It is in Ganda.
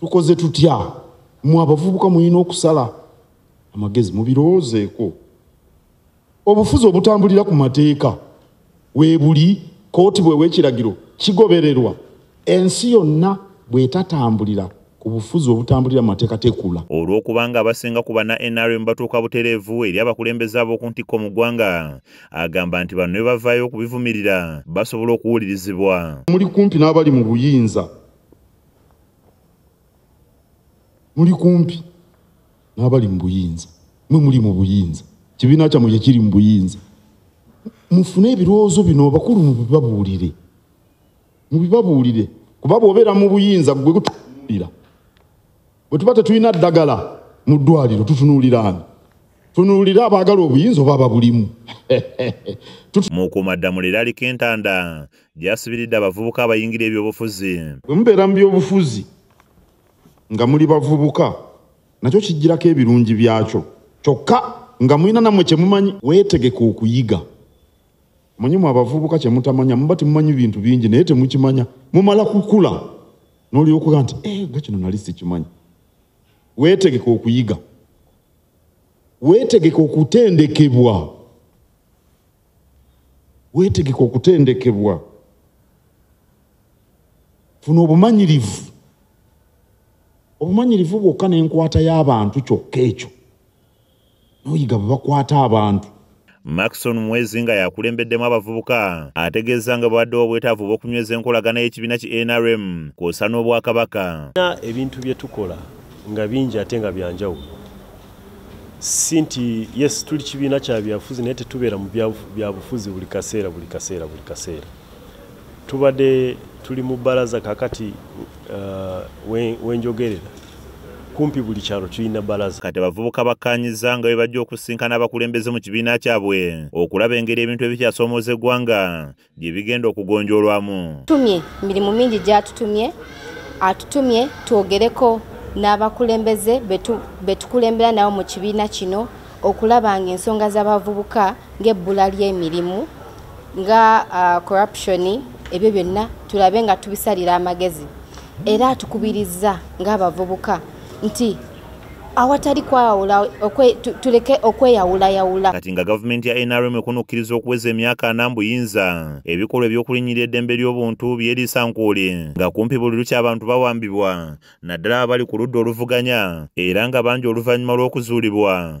tukoze tutya mu abavubuka mulina okusala amagezi mubirowoozeeko obufuzi obutambulira ku mateeka weebuli kooti bwewekiragiro kigobererwa ensi yonna bwetatambulira ku bufuzi obutambulira amateeka tekula olw'okubanga abasinga ku bana nrm batuuka butereevu eri abakulembeze ab'oku ntikko mu ggwanga agamba nti bano ne bavaayo okubivumirira basobola okuwulirizibwa muli kumpi n'abali mu buyinza muli kumpi n'abali mu buyinza mwe muli mu buyinza kibiina kyammwe kye kiri mu buyinza mufune ebirowoozo bino bakulu mubibabuulire mubibabuulire kuba bw'obeera mu buyinza gwe gutuulira bwe tuba tetulina ddagala mu ddwaliro tutunuuliraani tunuulira abaagala obuyinza oba babulimu mukuumaddamula eryaliko entanda gyasibiridde abavubuka abayingira ebyobufuzi bwe mubeera mu byobufuzi nga muli bavubuka nakyo kijjirako ebirungi byakyo kyokka nga mulina nammwe kye mumanyi weetegeka okuyiga Manye mwe abavubuka kye mutamanya muba temumanyi bintu bingi naye temukimanya mumala kukula n'olyokuga nti eh, nga kino nali sikimanyi weetegeka okuyiga weetegeka okutendekebwa weetegeka okutendekebwa funa obumanyirivu obumanyirivu bwokka n'enkwata y'abantu kyokka ekyo noyiga bwebakwata abantu maxon mwezi nga yakulembeddemu abavubuka ategeeza nga bwewaddewo obwetaavu bw'okunyweza enkolagana y'ekibiina ki nrm kwosa n'obwakabaka na ebintu bye tukola nga bingi ate nga byanjawulo si nti yes tuli kibiina kya byabufuzi naye tetubeera mu byabufuzi buli kaseera buli kaseera buli kaseera tubadde tuli mu bbalaza kakati uh, wenjogerera kumpi buli kyalo tulina balaza kati abavubuka bakkaanyizza nga bwe bajja okusinkana abakulembeze mu kibiina kyabwe okulaba engeri ebintu ebikyasomooza eggwanga gye bigenda okugonjoolwamu tumye mirimu mingi gyatutumye atutumye twogereko n'abakulembeze be tukulembera nabo mu kibiina kino okulaba ng'ensonga z'abavubuka ng'ebbula ly'emirimu nga uh, corruption ebyo byonna tulabe nga tubisalira amagezi era atukubirizza ng'abavubuka nti awatali kwawula tuleke okweyawulayawula kati nga gavumenti ya nrm ekunukkiriza okuweza emyaka ana mbuyinza ebikolwa ebyokulinyirira eddembe ly'obuntu byeriisa nkuuli nga kumpi buli lukya abantu bawambibwa naddala abali ku ludda oluvuganya era nga bangi oluvannyuma lw'okuzuulibwa